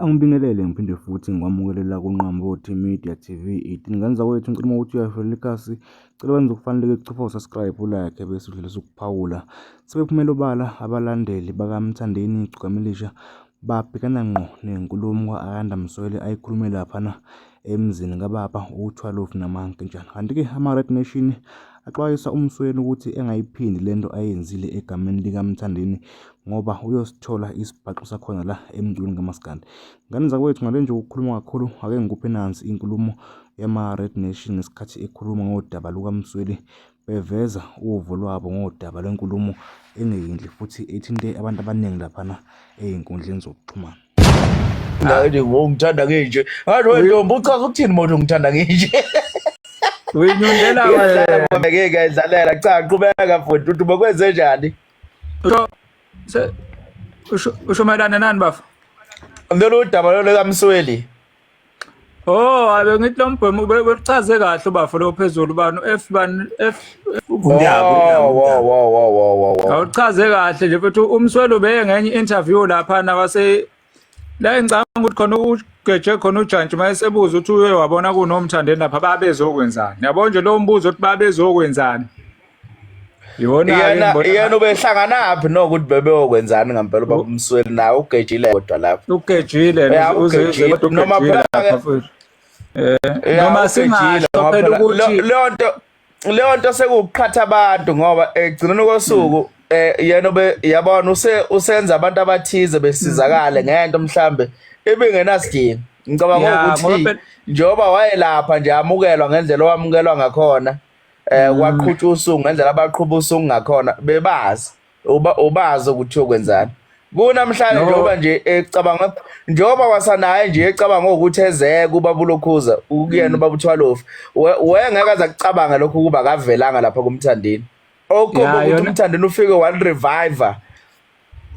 Angibingelele ngiphinde futhi ngikwamukelele kunqambo Media TV 18 ngane zakwethu ngicela uma ukuthi uyayifelela ikhasi cela wenze okufaneleke kuchopha usubscribe ulike bese udlulisa ukuphawula sebephumela obala abalandeli bakamthandeni igcukamilisha babhekana ngqo nenkulumo ka-ayanda msweli ayikhulume laphana emzini kababa u-12 namankentshana kanti-ke ama-red nation axwayisa umsweni ukuthi engayiphindi le nto ayenzile egameni likamthandeni ngoba uyosithola isibhaxu sakhona la emculweni kamaskandi ngane zakwethu ngale nje ukukhuluma kakhulu ake ngikuphe nansi inkulumo yama-red nation ngesikhathi ekhuluma ngodaba lukamsweli beveza uvo lwabo ngodaba lwenkulumo engeyinhle futhi ethinte abantu abaningi laphana ezinkundleni zokuxhumana. Ngani ngongithanda nginje. Ngathi wena ntombi uchaza ukuthini manje ungithanda nginje? Uyinyundela wena. Ngeke idlalela cha qhubeka futhi uthi bokwenze njani? Usho usho mayelana nani bafo? Lolu daba lolu kaMsweli. Oh, abe ngithi lo mbhemu bekuchaze kahle ubafo lo phezulu bani F bani F Awuchaze kahle nje futhi umswelo beye ngenye interview lapha na wase la engicanga ukuthi khona ugeje khona ujantshi mayesebuza ukuthi uye wabona kunomthandeni lapha babezokwenzani. Yabo nje lo mbuzo ukuthi babezokwenzani. iyona iyona ubehlanganaphi nokuthi bebeyokwenzani ngempela uba umsweli naye ugejile kodwa lapho ugejile noma phela eh, noma singasho phela ukuthi leyo nto leyo nto sekuqhatha abantu ngoba egcineni kosuku hmm. eh yena obe yabona use usenza abantu abathize besizakale hmm. ngento mhlambe ibingenasidingo ngicabanga ukuthi njengoba wayelapha nje amukelwa ngendlela owamukelwa ngakhona eh kwaqhutshwa usuku ngendlela abaqhuba usuku ngakhona bebazi uba ubazi ukuthi uyokwenzani kunamhlanje njengoba nje ecabanga njengoba wasanaye nje ecabanga ukuthi ezeke ubaba ulokhuza ukuyena mm. ubaba uthwalofu wengeke aza kucabanga lokho ukuba akavelanga lapha kumthandeni okhomba ukuthi umthandeni ufike wani reviver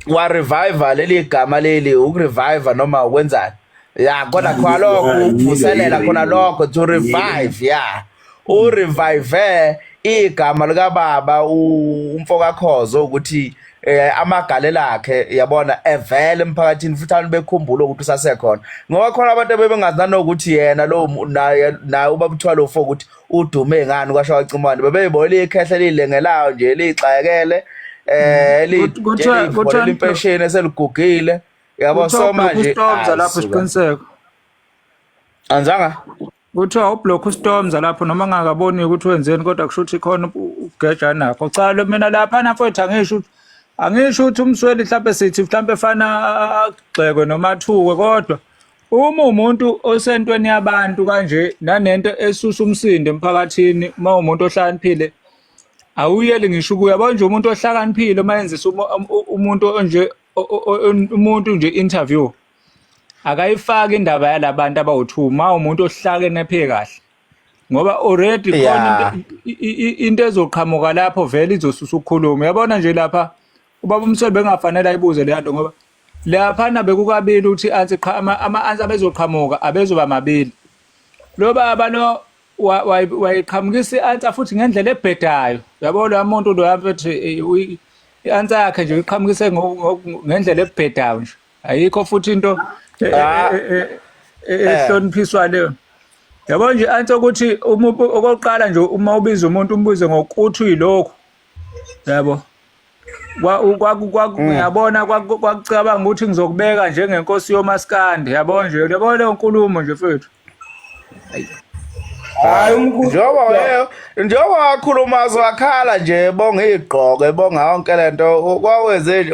wa revive leli gama leli ukurevive noma ukwenzani ya khona khona lokho ukuvuselela khona lokho to revive ya u revive igama lika baba umfo kakhozo ukuthi eh amagalelo akhe yabona evele emphakathini futhi abantu bekhumbula ukuthi usasekhona ngoba khona abantu abebengazi nanokuthi yena lo naye naye ubabuthiwa lo fo ukuthi udume ngani kwasho wacimane bebeyibona liyikhehla lilengelayo nje lixayekele eh liyivolela impesheni eseligugile yabo so manje uStormza lapho isiqiniseko anzanga kuthiwa ublock uStormza lapho noma ngakaboni ukuthi wenzeni kodwa kusho ukuthi khona ugeja nakho cha lo mina lapha nafethu angisho ukuthi angisho ukuthi umsweli mhlambe sithi mhlambe fana agxekwe noma athukwe kodwa Uma umuntu osentweni yabantu kanje nanento esusa umsindo emphakathini uma umuntu ohlakaniphile awuyeli ngisho ukuya yabo nje umuntu ohlakaniphile uma yenzisa umuntu onje umuntu nje interview akayifaki indaba yalabantu abawu2 uma umuntu ohlakene phe kahle ngoba already khona into ezoqhamuka lapho vele izosusa ukukhuluma yabona nje lapha ubaba umsebe bengafanele ayibuze leyanto ngoba Laphana bekukabili ukuthi ansi qha ama-ansi abezoqhamuka abezoba mabili. Lo baba lo wayiqhamukisa i-ansa futhi ngendlela ebhedayo. Yabo lo muntu lo abethi i-ansa yakhe nje uyiqhamukise ngendlela ebhedayo nje. Ayikho futhi into e, e, ah. e, ehloniphiswa leyo. Yabo nje ansi ukuthi okokuqala nje uma ubiza umuntu umbuze ngokuthi uyilokhu. yabo yabona kwakucabanga ukuthi ngizokubeka njengenkosi yomaskandi yabo nje yabo leyo nkulumo nje fethu hayi njengoba weyo njengoba wakhuluma zwakhala nje bonga igqoko ebonga yonke lento kwawenze nje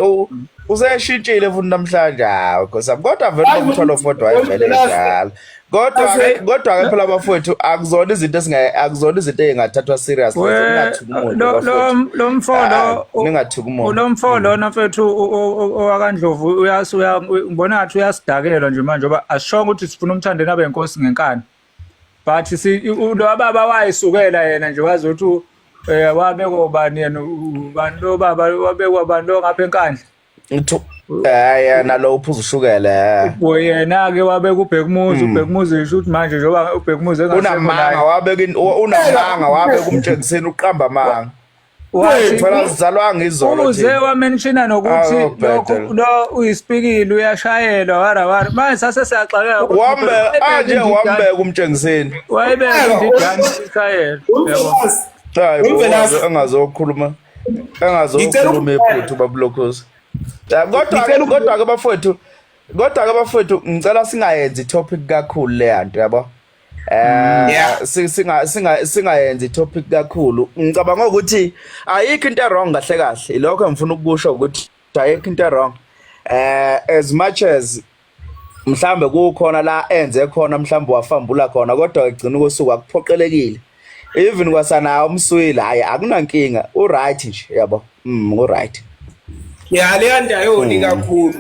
useshintshile futhi namhlanje hawu kodwa vele umtholo fodwa ayivele njalo Kodwa ke kodwa ke phela bafowethu akuzona izinto esingaye akuzona izinto ezingathathwa serious ngathuka umuntu. Lo lo mfolo ah, ningathuka umuntu. Lo mfolo mm. nafethu owakandlovu uyasuya ngibona ngathi uyasidakelwa nje manje ngoba ashonga ukuthi sifuna umthandeni abe inkosi ngenkani. But si lo baba wayisukela yena nje wazi ukuthi eh wabekwa ubani yena ubani lo baba wabekwa ubani lo ngapha enkandla. Ngithu eh nalo uphuza ushukela. Eh. Bo yena ke wabeka ubhekumuzi hmm. ubhekumuzi isho ukuthi manje njengoba ubhekumuzi unamanga wabeka unamanga wabeka umtshengiseni uqamba amanga. Wayithola sizalwa ngizolo nje. Uze wamenshina nokuthi ah, lokho lo uyispikili uyashayelwa wara wara. Manje sase siyaxakeka. Wambe anje ah, wambeka umtshengiseni. Wayebeka indidani ishayelwa. Yebo. Hayi, angazokhuluma. engazokhuluma ephuthu babulokhozi kodwa kodwa ke bafowethu kodwa ke bafowethu ngicela singayenzi topic kakhulu leya nto yabo Mm, eh singa singa singayenzi topic kakhulu ngicabanga ukuthi ayikho into wrong kahle kahle lokho engifuna ukusho ukuthi ayikho into wrong eh as much as mhlambe kukhona la enze khona mhlambe wafambula khona kodwa egcina ukusuka kuphoqelekile even kwasana umswile hayi akunankinga u right nje yabo mm u right ya leya ndayoni mm. kakhulu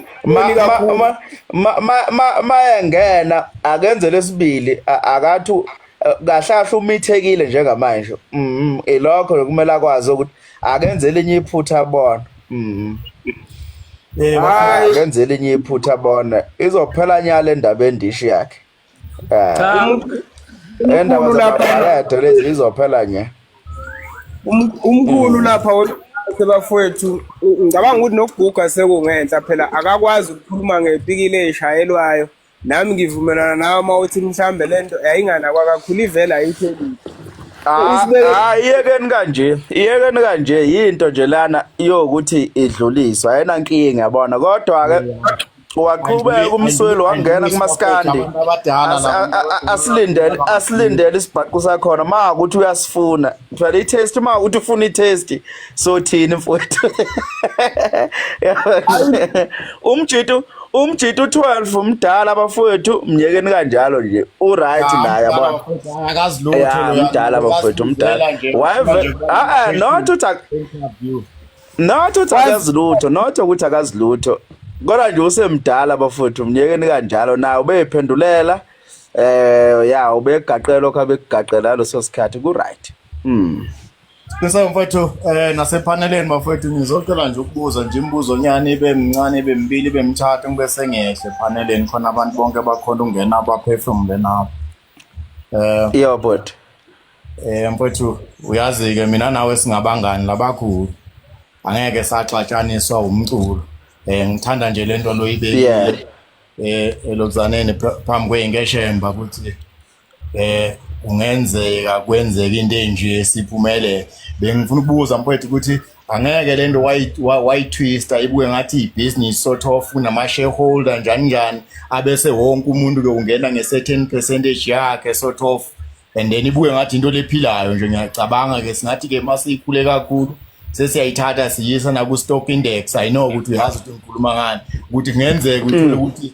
mayengena akenze lesibili akathi eh, kahle kahle umithekile njengamanje mm, ilokho kumele akwazi ukuthi akenze elinye iphutha bona mhm Eh, Hayi. akenze elinye iphutha bona izophela nyala endaba endishi yakhe Ah, Cha, umuntu- endaba umkhulu lapha- zababalede lezi izophela nya um- umkhulu lapha we- sebafowethu u- ngicabanga ukuthi nokuguga sekungenhla phela akakwazi ukukhuluma ngepikile eshayelwayo Nami ngivumelana nawe uma uthi mhlambe lento yayinganakwa kakhulu ivela ayithelile. Ah, ah, iyekeni kanje iyekeni kanje yinto nje lana yokuthi idluliswa ayena nkinga yabona kodwa ke waqhubeka umsweli wangena kumaskandi asilindele asilindele isibhaqu sakhona ma ukuthi uyasifuna Ngithwala i-test uma uthi ufuna i-test sothini mfowethu. Umjitu umjitu 12 umdala bafowethu myekeni kanjalo nje u right naye yabona akazi lutho lo umdala bafowethu umdala wave ah not uthi not uthi akazi lutho not ukuthi akazi lutho kodwa nje usemdala bafowethu myekeni kanjalo naye ubephendulela Eh ya ubegaqela lokho abekugaqela leso sikhathi ku right. Mm. Bese mfowethu eh nasepaneleni mafowethu ngizocela nje ukubuza nje imibuzo nyane ibe mncane ibe mbili ibe mthathu ngibe sengehle paneleni khona abantu bonke bakhona ungena abaphefumule nabo. Eh yeah but eh mfowethu uyazi ke mina nawe singabangani labakhulu. Angeke saxatshaniswa umculo. Eh ngithanda nje lento loyibekile. Yeah. eh elonzaneni phambi kweyinkeshemba ukuthi eh kungenzeka kwenzeka into enje siphumele bengifuna ukubuza mfowethu ukuthi angeke le nto wayitwista ibuke ngathi ibhizinisi sothi ofuna ama-shareholder njani njani abese wonke umuntu-ke ungena nge-certain percentage yakhe sort of and then ibuke ngathi into lephilayo nje ngiyacabanga ke singathi ke masiyikhule kakhulu sesiyayithatha siyisa naku stock index i know ukuthi uyazi ukuthi ngikhuluma ngani ukuthi kungenzeka uthole hmm. ukuthi